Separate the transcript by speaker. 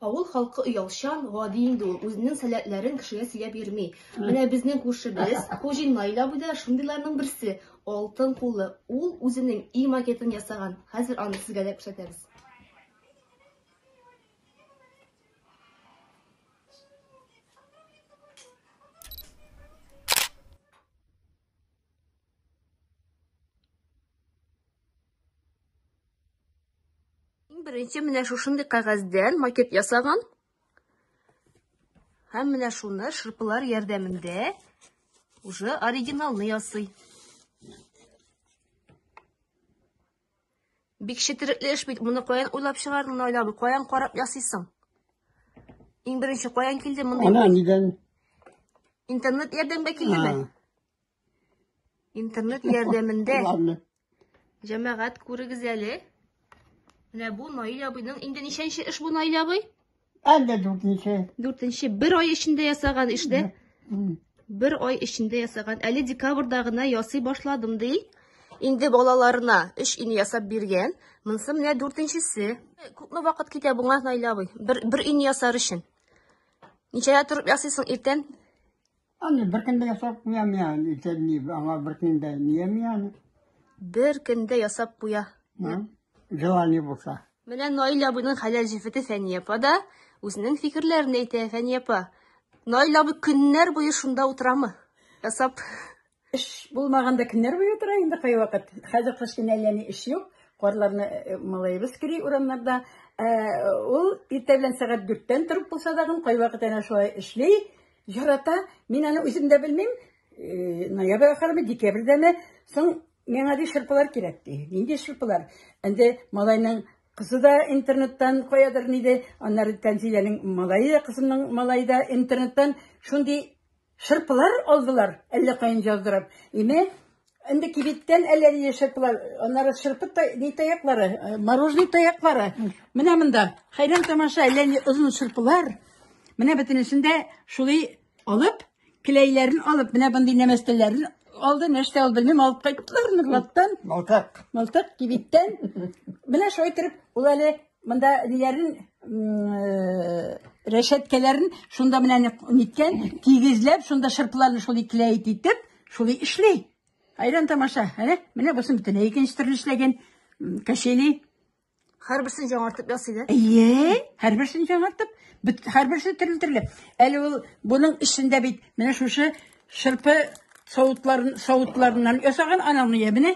Speaker 1: Авыл халкы оялчан, гади инде ул. Үзенең сәләтләрен кешегә сөйләп йөрми. Менә безнең күршебез, Хуҗин Наил абый да шундыйларның берсе. Алтын кулы. Ул үзенең и макетын ясаган. Хәзер аны сезгә дә күрсәтәбез. Иң беренче менә шушындый кәгазьдән макет ясаган. Һәм менә шуны шырпылар ярдәмендә уже оригиналны ясый. Бик четерекле эш бит, моны каян уйлап чыгардың, Наилә абый, каян карап ясыйсың? Иң беренче каян килде мондый? Ана нидән? Интернет ярдәмгә килдеме? Интернет ярдәмендә. Ладно. Җәмәгать күрегез әле. Менә бу Наил абыйның инде ничәнче эш бу Наил абый? Әллә
Speaker 2: дүртенче. Дүртенче бер ай
Speaker 1: эчендә ясаган эш дә. Бер ай эчендә ясаган. Әле декабрьдә гына ясый башладым ди. Инде балаларына өч ин ясап биргән. Монысы менә дүртенчесе. Күпме вакыт китә буңа Наил абый? Бер бер ин ясар өчен. Ничәдә торып ясыйсың иртән? Аны
Speaker 2: беркем дә ясап куям я, итә ни, аңа беркем дә ниями аны. Беркем
Speaker 1: дә ясап куя.
Speaker 2: Желание булса. Менә Наил абыйның
Speaker 1: хәләл җефете Фәния апа да үзенең фикерләрен әйтә. Фәния апа, Наил абый көннәр буе шунда утырамы? Ясап. Эш
Speaker 3: булмаганда кемнәр буе утыра инде кайвакыт. Хәзер кыш көне әллә ни эш юк. Карларны э, малаебыз кери урамнарда. Ә, ул иртә белән сәгать дүрттән торып булса тагын кайвакыт әнә шулай эшли, ярата. Мин аны үзем дә белмим. Э, ноябрь ахырымы, декабрьдәме, соң миңа ди шырпылар кирәк ди. Нинди шырпылар? Инде малайның кызы да интернеттан каядыр ниде, аннары Тәнзиләнең малае, кызымның малае да интернеттан шундый Шырпылар алдылар, әллә каян җаздырып. Име, инде кибеттән әллә нинди шырпылар, аннары шырпы та, ни таяклары, э, мороженый таяклары. Менә монда, хәйран тамаша, әллә ни озын шырпылар. Менә бөтенесен дә шулай алып, келәйләрен алып, менә мондый нәмәстәләрен алды, нәрсә алды, белмим, алып кайттылар Нурлаттан. Малтак. Малтак кибеттән. Менә шулай итеп, ул әле Монда ниләрен рәшәткәләрен шунда менә ниткән, тигезләп, шунда шырпыларны шул икләйт итеп, шул эшли. Айран тамаша, әнә, менә бусын битен икенче төрле эшләгән кәшели.
Speaker 1: Һәрберсен җаңартып ясый да. Әйе, һәрберсен
Speaker 3: җаңартып, һәрберсе төрле төрле. Әле ул буның эчендә бит менә шушы шырпы савытларын савытларыннан ясаган анамны я менә